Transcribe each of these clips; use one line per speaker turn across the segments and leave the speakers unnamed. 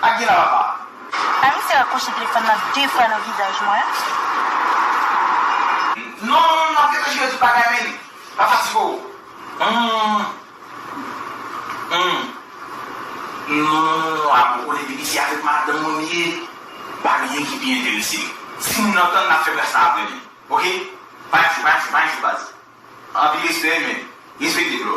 Ak gina papa. Sa misye
rakòche telefòn nan 2 fwa nan vizaj mwen.
Non map rete jere tout bagay men li pa fatige w humm non a mwen konnen depi se avèk madanm mwen li ye pa gen anyen ki pi enterese m si moun nan tann nap fè bref sa aprè demen ok pa yon jou pa yon jou pa yon jou baz anpil respè men respekte bro.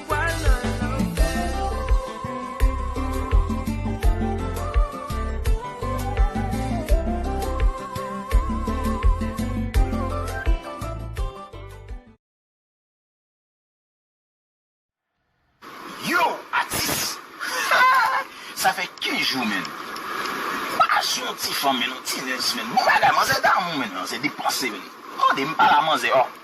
Yow atis sa fè kenz jou menn pa sou yon ti fanm menn yon ti nèz menn bon bagay manzè damou menn manzè depanse menn tande m pala manzè oh.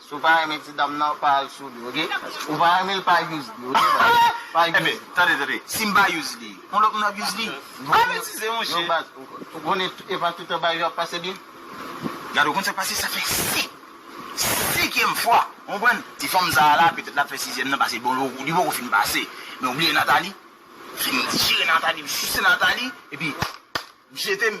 Si w pa renmen ti dam nan pa al sou li ok ou pa renmen l pa use li ok pa use li. Ebyen tande tande
si m pa use li yon lòt moun ap use li pa betize monchè. Yo baz ou konnen
epa tout travay yo ap pase byen. Gade ou konn sak
pase sa fè 5 senkyèm fwa ou konprann ti fanm sa la petèt lap fè sizyèm nan pase bon li poko fin pase men ou bliye Nathalie fin dijere Nathalie l sise Nathalie epi m jete m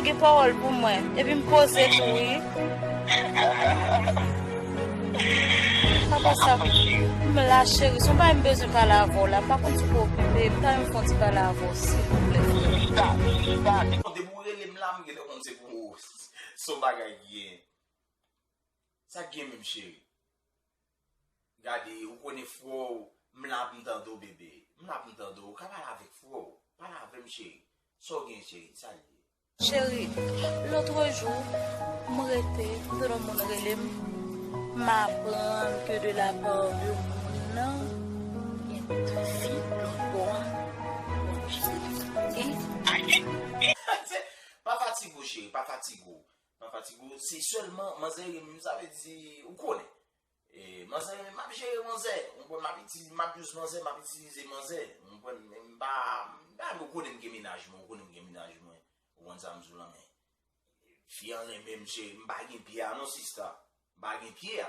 Ou gen pawòl pou mwen epi m poze tou wi. Sa pa sa pou m la cheri son bagay m bezwen pale avè w la m pa konn si w okipe m ta renmen fon ti pale avè w silvouplè frèm.
Bon depi w rele m la m gentan konn se pou w son bagay ki gen sa k gen menm cheri. Gade ou konnen fro w m la pou m tande w bebe m la pou m tande w ou ka pale avèk fro w pale avè m cheri sa w gen cheri sa l ye. Cheri
lotre jou m rete kote yon moun rele m m aprann ke de la part de moun nan gen de fi lòt bò a bon jis
depi sa m gen. Pafatigue w cheri pafatigue w Pa fatige w, se sèlman manzè rinmin sa vle di ou konnen. Manzè rinmin map jere manzè, ou konprann map itilize map use manzè, map itilize manzè, ou konprann men m pa m ou konnen m gen mennaj mwen, ou konnen m gen mennaj mwen, ou konprann sa m di w lan men fi an renmen m cheri m pa gen pye a non sista, m pa gen pye a.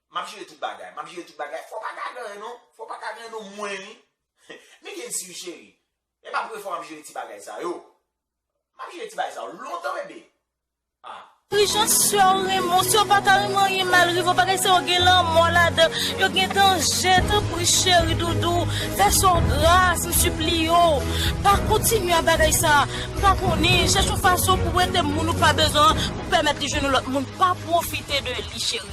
Map jere tout bagay. Map jere tout bagay. Fò pa ka ganyen non. Fò pa ka ganyen non mwen wi. Me gen si wi cheri. E pa premye fwa map jere ti bagay sa yo. Map jere ti bagay sa yo lontan bebe. Ah. Prijan
sew renmenw sew pata renmen anyen mal rivew bagay sa yo gen lanmò ladan yo gen danje tanpri cheri doudou fè sew gras m sipliye w pa kontinye a bagay sa m pa konnen chèch yon fason pou wete moun ou pa bezwen an pou pèmèt li jwenn yon lòt moun pa pwofite de li cheri.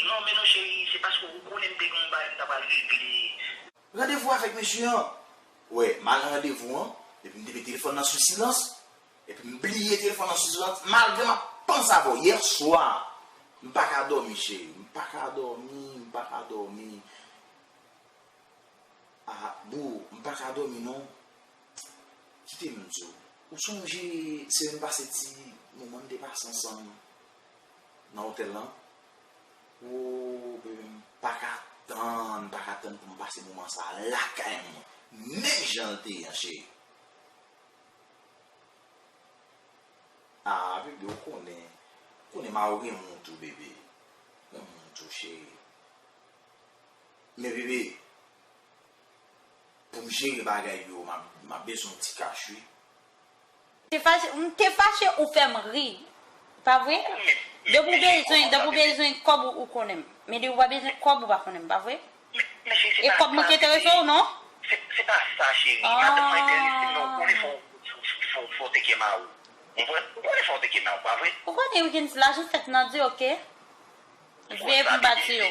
Non men non chérie se paske ou konnen m te gen yon bagay m ta pral regle. Randevou avèk
mesye an. Wè, m al nan randevou an, epi m te met telefòn nan sou silans, epi m bliye telefòn nan sou silans, malgre m ap panse avè w. Yè swa, m pa ka dòmi chérie, m pa ka dòmi, m pa ka dòmi. A, boo, m pa ka dòmi non. Kite m di w, ou sonje semaine pase ti moman n te pase ansanm? nan otèl lan ooh bebe m paka tann paka tann pou m pase moman sa lakay mwen menm jan l te ye an cheri aah bebe ou konnen ou konnen ma ou renmen w tou bebe m renmen w tou cheri men bebe pou m jere bagay yo m ap bezwen w ti kach wi.
Te fache m te fache ou fèm ri pa vre depi ou bezwen depi ou bezwen kòb ou konnen m men depi ou pa bezwen kòb ou pa konnen m pa vre e kòb mwen ki enterese w non
ou konnen wi gen lajan
fèt nan di ok veye pou m bat sou yo.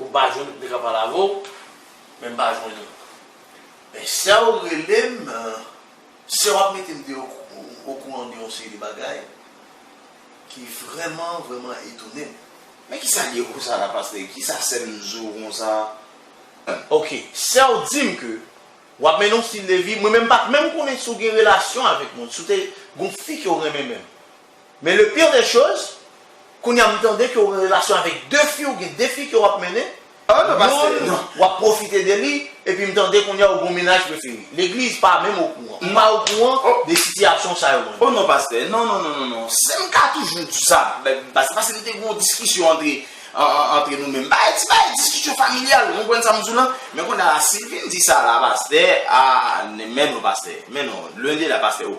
Ou pa jwenn li ka pale avèw men mpa jwenn li men sèw relem sèw ap metem de okouran de yon seri de bagay ki vrèman vrèman etonem. Men kisa
liye konsa la pastè kisa sèm di w konsa. Ok
sèw dim ke wap mennen yon stil de vi mwen menm pat menm konnen si w gen relasyon avèk moun si w te gon fi ke w renmen menm. Men le pire des choses, kounye a m tande ke w gen relasyon avèk 2 fi, ou gen 2 fi ke w ap mennen, youn
w ap pwofite de
li, epi m tande kounye a ou gen yon mennaj prefere. Legliz pa menm okouran. M pa okouran de sitiyasyon sa yo mwen. O non pastè, non
non non non non, si m ka toujou di sa, se paske li te gen yon diskisyon antre antre nou menm. Bagay ti bagay diskisyon familyal, ou konprann sa m di w lan? Men kounye a si l vin di sa la pastè, a men non pastè, men non, lwen de la pastè, o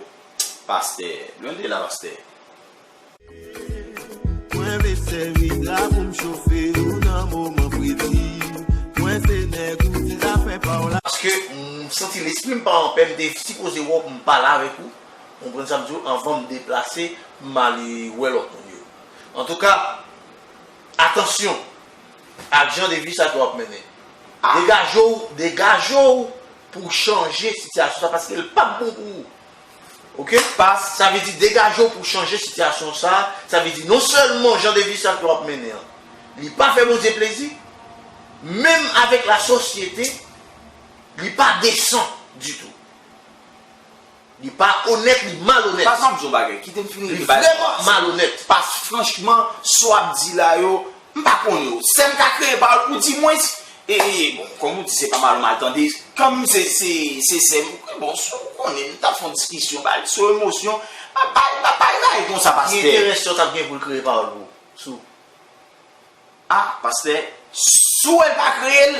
Pastè. Lwen de la pastè.
Mwen vle sèvi la pou m chofe ou nan moman predi Mwen se nèg ou se zafè pa w la. Paske m santi
lespri m pa anpè m te sipoze wè w m pale avèk ou ou konprann sa m di w anvan m deplase m ale wè lòt moun yo antouka atansyon ak jan de vi sa ke w ap mennen degaje w degaje w pou w chanje sitiyasyon sa paske l pap bon pou ou ok pas sa vle di degaje w pou w chanje sitiyasyon sa sa vle di non sèlman jan de vi sal ke w ap mennen an li pa fè Bondye plezi menm avèk la sosyete li pa desan ditou. Li pa onèt li malonèt. Pase map di yon bagay kitem
fin regle bagay sa. Li vrèman malonèt.
Pase franchman
sa w ap di la yo m pa konnen yo. Sèm ka kreye pawòl pou di mwens e bon kòm ou di se pa mal ou mal tande kòm se se sèm bon si w konnen m ta fè yon diskisyon ba li sou emosyon pa pa pa pale bagay konsa pastè. Ki enterè sè w t ap gen pou l
kreye pawòl pou ou sou.
A pastè si w wè l pa kreye l.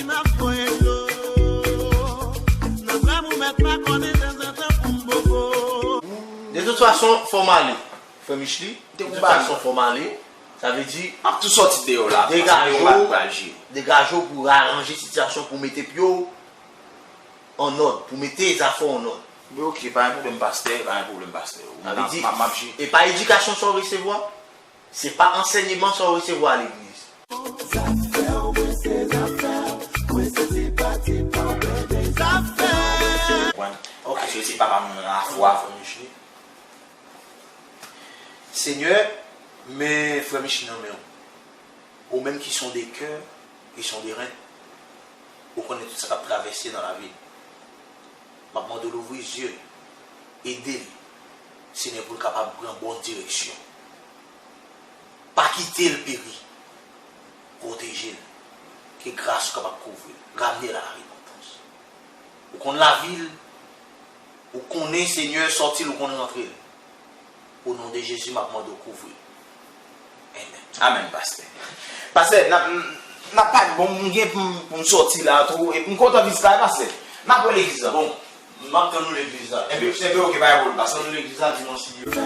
Nap voye dlo nan zèm ou mèt pa konnen dezantan poum bobo. De tout fason fò m ale frè Michely de tout fason fò m ale sa vle di Map tou sòti deyò la
paske yo bat pral jye.
Degaje w pou aranje sitiyasyon pou mete pye w an nòd pou mete zafè w an nòd. Wi ok pa gen pwoblèm
pastè pa gen pwoblèm pastè. Sa vle di e
pa edikasyon sa w resevwa? Se pa ansèyeman sa w resevwa a legliz.
Senyè, m men frè Micheline nan men w. Ou menm ki sonde kè, ki sonde ren. Ou konnen tout sa k ap travèse nan lavi l. Map mande w louvri zye l, ede l Senyè pou l kapab pran bon direksyon. Pa kite l peri. Pwoteje l, ke gras ou kapab kouvri l, ramne l a la repantans. Ou konn lavi l, ou konnen Senyè sòti l ou konn rantre l. O non de Jezi map mande w kouvri. Amen.
Amen pastè. Pastè nap nap pale bon m gen pou m soti la tou e m kontan vizit la wi pastè. Nap wè legliz la bon. Map
tann nou legliz la. Enpe enpe ok pa gen pwoblm
pastè. Map tann
nou legliz la dimanch si Dye vle.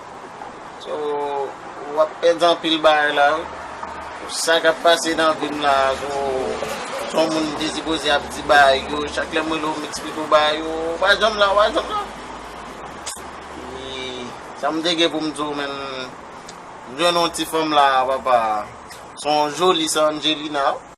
So wap pèdi anpil bagay la wi. Sa kap pase nan vim la so son moun m te sipoze ap di bagay yo chak lèm rele w m eksplike w bagay yo ou pa janm la ou pa janm la epi sa m te gen pou m di w men m jwenn yon ti fanm la papa son joli sa Angelina wi.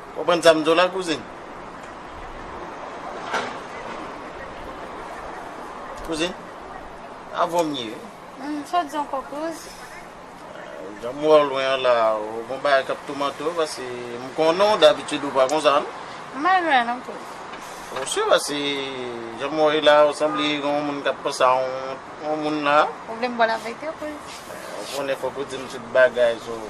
Konprann sa m di
w la kouzin? Kouzin? Avon m ye. Hum, sa w di ankò
kouz?
Jan m wè w lwen an la, ou gon bagay k ap toumante w pase
m
konnen w dabitid ou pa konsa non. M pa lwen non
kouz.
Ou si pase jan m wè w ye la ou sanble gen yon moun k ap panse a yon moun la. Ou vle m bo laverite
kouz? Ou konnen fòk
ou di m tout bagay sou.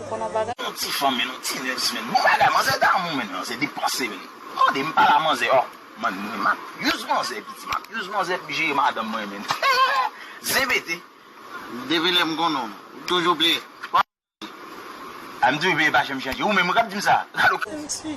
Ou konn yon bagay? Yon ti fanmi nou ti
nèg simen. Bon bagay manzè damou menn nan se depanse menn. Tande m pala manzè oh. M'en mwen makyuz manzè piti makyuz manzè pou jere madanm mwen menn heheh zen pete. Depi
lè m konnen w, ou toujou bliye, pa bliye.
Ah m toujou bliye pa janm chanje. Ou menm wi kap di m sa? Gade w. Zen ti.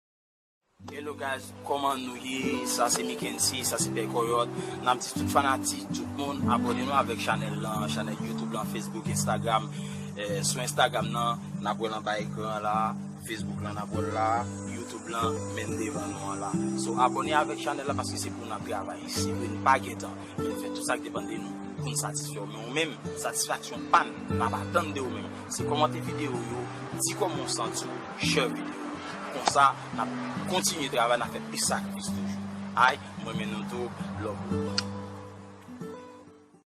Hello guys koman nou ye sa se mikency sa se pè kòyòt nap di tout fanatik tout moun abòne nou avèk chanèl lan chanèl youtube lan facebook instagram sou instagram nan nap wèl anba ekran an la facebook lan nap wèl la youtube lan menm devan nou an la so abòne avèk chanèl la paske se pou nap travay se vre nou pa gentan men nou fè tout sak depan de nou poun satisfèw men ou menm satisfaksyon pa nou nap atann de ou menm. Se kòmante video yo, di kòman w santi w, share video yo. Konsa nap kontinye travay nap fè plis ak plis toujou. Ayy m renmen nou tou love u.